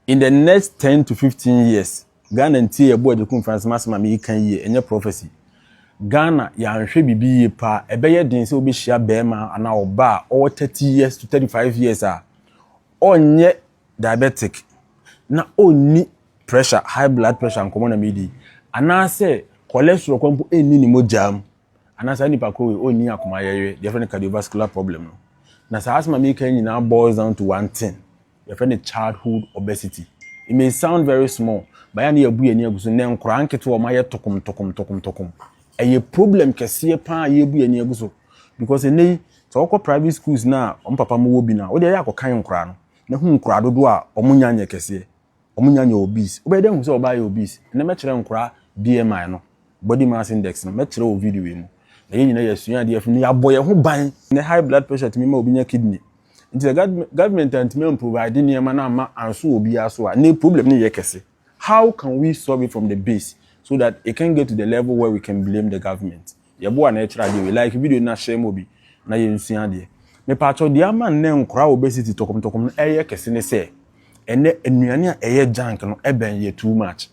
In the next ten to fifteen years, Ghana ntie ɛbo a Gyekum Francis m'asɛm a meyi ka yie, ɛnyɛ prophecy. Ghana, yɛanhwɛ biribi yie paa, ɛbɛyɛ den sɛ wobɛhyia bɛɛma anaa ɔba a ɔwɔ thirty years to thirty five years a ɔnyɛ diabetic na ɔnni pressure, high blood pressure nkɔmɔ na medi, anaasɛ cholesterol kɔ mpo nni ne mogyaa mu. anaa saa nipa koro wei ɔnni akoma yɛyɛ deɛ yɛfrɛ no cardiovascular problem no na saa asɛm a meka nyinaa boils down to one thing yɛfrɛ no childhood obesity it may sound very small but yɛn a yɛabu yɛn ani agu so nnɛ nkoraa nketewa wɔn ayɛ tokom tokom tokom tokom ɛyɛ problem kɛseɛ paa yɛabu yɛn ani agu so because nnɛ yi sɛ wɔkɔ private schools na wɔn papa mo wɔ bi na wɔde ɛyɛ akɔkan nkoraa no na hu nkoraa dodoɔ a wɔn nya nyɛ kɛseɛ wɔn nya nyɛ obese wobɛyɛ dɛ ahu sɛ ɔbaa yɛ obese ɛnɛ mɛkyerɛ nkora BMI no body mass index no mɛkyerɛ wɔ video yi mu na yɛn nyina yɛasua adeɛ afi mu na yɛabɔ yɛn ho ban ɛnɛ high blood pressure tumi ma obi nya kidney nti sɛ government antumi amprovide nneɛma no amma anso wɔ biara so a ɛnɛ problem no yɛ kɛse how can we solve it from the base so that it can get to the level where we can blame the government Yɛboa na ɛkyerɛ adeɛ wei. Like video no na share ma obi na yɛnsua adeɛ. Mepaakyɛw deɛ ama nnɛ nkora a obesity tɔkɔmtɔkɔm no ɛyɛ kɛse ne sɛ ɛnɛ nnuane a ɛyɛ junk no ɛbɛn yɛ too much.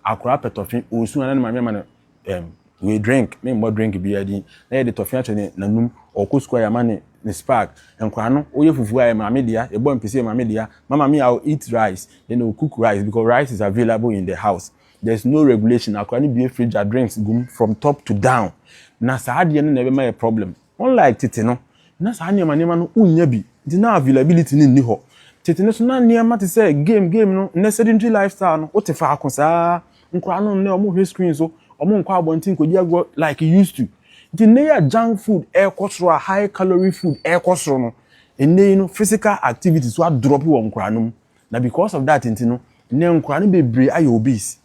Akora pɛ tɔfe, osu a na ne maame ama no ɛm wei drink, me mmɔ drink biara din, na yɛde tɔfe ahyɛ ne nanum, ɔkɔ sukuu a yɛama ne ne spark, nkora no woyɛ fufuo a ɛyɛ maame dea, yɛbɔ mpese ɛyɛ maame dea, mama me a eat rice, then ɔcook rice because rice is available in the house. There is no regulation akora no bue fridge a drinks gum from top to down na saa adeɛ no na ɛbɛma yɛ problem unlike tete no na saa nneɛma nneɛma no wonya bi nti na availability no nni hɔ tete no so na nneɛma te sɛ game game no nnɛ sedentary lifestyle no wote faako saa nkora no nnɛ wɔn hwɛ screen so wɔn nkɔ abɔnten kɔdi agorɔ like used to nti nnɛ yɛ junk food ɛrekɔ soro a high calorie food ɛrekɔ soro no nnɛ yi no physical activity so adrɔp wɔ nkora no mu Na because of that nti no nnɛ nkwadaa no bebree ayɛ obese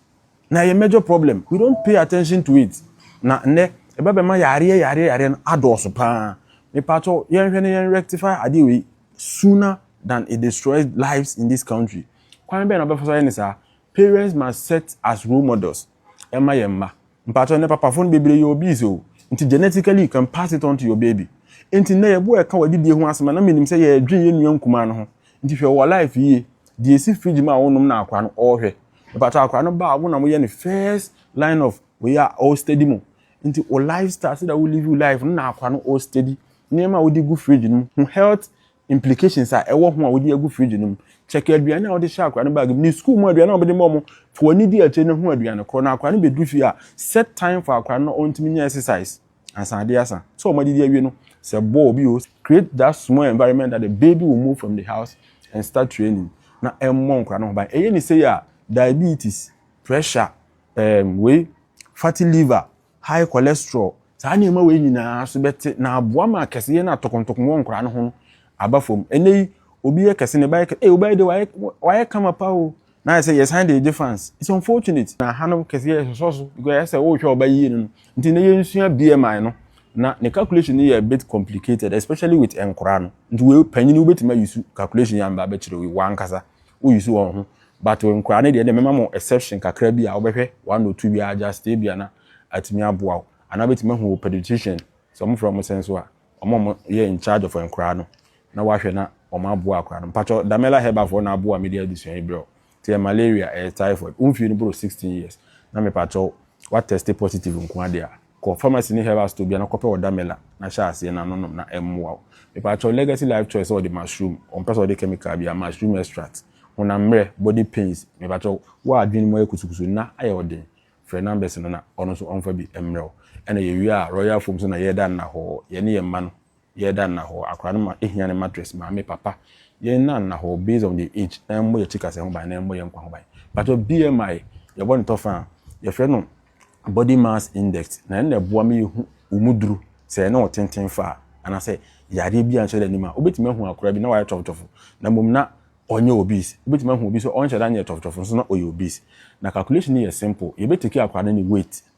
na ɛyɛ major problem we don't pay attention to it na nnɛ ɛba bɛma yareɛ yareɛ yareɛ no adɔɔso paa mepatɔ yɛnhwɛ na yɛn rectify adeɛ wei sooner than it destroys lives in this country kwan bɛn na ɔbɛfa so ayɛ ne saa parents must set as role models ɛma yɛn mma. Mpakyɛw, ndɛ papafo no bebree yɛ obese o, ntsi genetically you can pass it on to your baby. Ntsi ndɛ yɛbɔ ɛka wɔ adidie ho asɛm a, na menim sɛ yɛredwen yɛn nua nkumaa no ho. Ntsi hwɛ wɔ life yie, deɛ esi fridge mu a wonom na akora no ɔɔhwɛ. Mepakyɛw akora no ba a wo na moyɛ no first line of wei a ɔɔ steady mo. Ntsi wo lifestyle, sɛdeɛ wo live wo life no na akora no ɔɔ steady nneɛma a wode gu fridge no mu ho health. implications a ɛwɔ ho a wode agu fridge no mu. Check aduane a wode hyɛ akwadaa no bag mu ne sukuu mu aduane a wobɛde ma wɔn. To w'ani di akyire na hu aduane korɔ na akwadaa no bɛduru fie a, set time for akwadaa no na ɔntumi nyɛ exercise ansa adeɛ asa. Sɛ wɔn adidi awie no, sɛ bɔɔl bi o, create that small environment that the baby will move from the house and start training na ɛmmɔ nkwadaa no ho ban. Ɛyɛ ne sei a, diabetes, pressure, um, wei, fatty liver, high cholesterol, saa nneɛma wei nyinaa so bɛte na aboa ma kɛseyɛ no a tɔkɔntɔkɔn wɔ nkwadaa no ho no aba fam. Ɛnnɛ yi, obi yɛ kɛse, ne ba yɛ kɛse, ee, wo ba yi de wayɛ, wayɛ kama pa o, na ayɛ sɛ yɛsan de regye fans. It's unfortunate. Na ha no kɛseyɛ ɛsosɔ so because ɛyɛ sɛ worehwɛ wo ba yie no no. Nti nnɛ yɛnsua BMI no, na ne calculation no yɛ a bit complicated especially with nkwadaa no. Nti wei, panyin wobɛtumi ayi su calculation yi amba abɛkyerɛ wo yi, w'ankasa. Wo use wɔn ho but nkoraa no deɛ ɛnde mɛma mo exception kakra bi a wo bɛhwɛ one or two biara just ebia na atumi aboa wo anaa wobɛtumi ahu wo pediatrician sɛ wɔn frɛ wɔn sɛn so a wɔn a wɔn yɛ in charge of nkoraa no na wahwɛ na wɔn aboa akoraa no mpakyɛw Damela Herbal foɔ na aboa me de adesua yi brɛ wo nti ɛyɛ malaria ɛyɛ typhoid wo mfie no boro sixteen years na mepakyɛw wa test positive nkoa deɛ a. Kɔ pharmacy ne herbal store biara na kɔpɛ ɔda mela na hyɛ aseɛ na nonom na ɛmmoa wo. Mepaakyɛw Legacy Life Choice sɛ ɔde mushroom, ɔmpɛ sɛ ɔde chemical biara, mushroom extract, honam mmerɛ, body pains, mepaakyɛw wo a adwene mu ayɛ kusukusu nna ayɛ wo den, frɛ numbers no na ɔno nso ɔmfa bi mmrɛ wo. Ɛna yɛwie a Royal Foam so na yɛda nna hɔɔ, yɛne yɛn mma no. Yɛ da nna hɔ, akora no ma ehia ne mattress, maame, papa, yɛ nna nna hɔ based on their age na ɛmmɔ yɛ tikasɛ ho ban na ɛmmɔ yɛ nkwa ho ban. Mpakyɛw BMI, yɛ bɔ ne tɔ fã a, yɛ frɛ no body mass index na ɛno na ɛboa ma yɛ hu wo mu duru sɛ ɛne wo tenten fa a anaasɛ yareɛ biara nhyɛ da nnim a. Wo bɛtumi ahu akora bi na wayɛ tɔfotɔfo na mmom na ɔnyɛ obese, wo bɛtumi ahu obi nso ɔnhyɛ da nyɛ tɔfotɔfo nso na ɔyɛ obese. Na calculation no yɛ simple, yɛ bɛ take akora no ne weight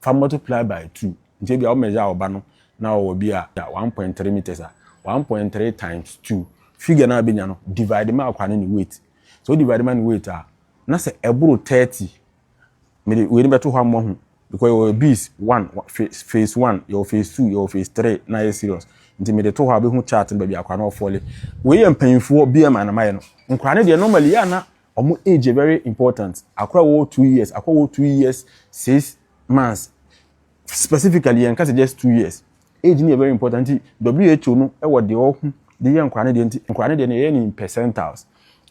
Fa multiply by two nti ebia wo measure wo ba no na ɔwɔ bi a one point three metres a one point three times two figure no a wobɛnya no divide ma akwadaa no ne weight sɛ wo divide ma ne weight a na sɛ ɛboro thirty mede wei no bɛto hɔ ama ho because yɛwɔ bees one phase one yɛwɔ phase two yɛwɔ phase three na yɛ serious nti mede to hɔ a bɛhu chart no baabi akwadaa no ɔfɔle wei yɛ mpanyinfoɔ bmi na mayɛ no nkwadaa no deɛ normally yɛ ana ɔmo age yɛ very important, akora a ɔwɔ two years, akora a ɔwɔ two years six months, specifically yɛn nka sɛ just two years, age no yɛ very important nti WHO no wɔ deɛ ɔho de yɛ nkora no deɛ nti nkora no deɛ no yɛyɛ no in percentiles,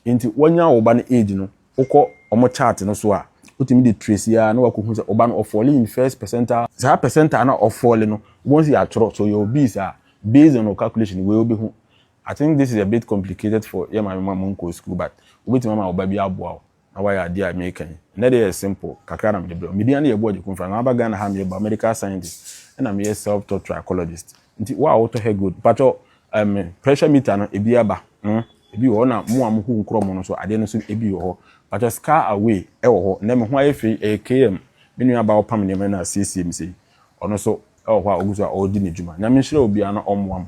nti wɔnya wo ba no age no, wokɔ ɔmo chart no so a, wotumi de trace ya na wakɔ hu sɛ ɔba no ɔfɔle in first percentile, saa percentile no a ɔfɔle no, wobɛhu sɛ yɛatwerɛ, sɛ ɔyɛ obese a, based on wo calculation wei wobɛhu, I think this is a bit complicated for yɛ maame ma monkɔɔ sukuu but wobɛtumi ama wo ba bi aboa wo na wayɛ adeɛ a mereka yi. Ɛnnɛ deɛ ɛyɛ simple kakra na mede brɛ wo. Medin ane yɛ Abu Agyekun Mfra na maba Ghana ha meyɛ biomedical scientist ɛna meyɛ self taught trichologist nti wo a wotɔ hair growth mpakyɛ um, pressure meter no ebi aba hmm, ebi wɔ hɔ na mo a mohu nkorɔ mo no nso adeɛ no nso ebi wɔ hɔ mpakyɛ scar away ɛwɔ hɔ nnɛ me ho ayɛ fei ɛyɛ km me nua aba ɔpam nneɛma na asiesie me sei Ɔno nso wɔ hɔ a ɔgu so a ɔredi ne dwuma. Nyame nhyira obiara na ɔmmoa mo.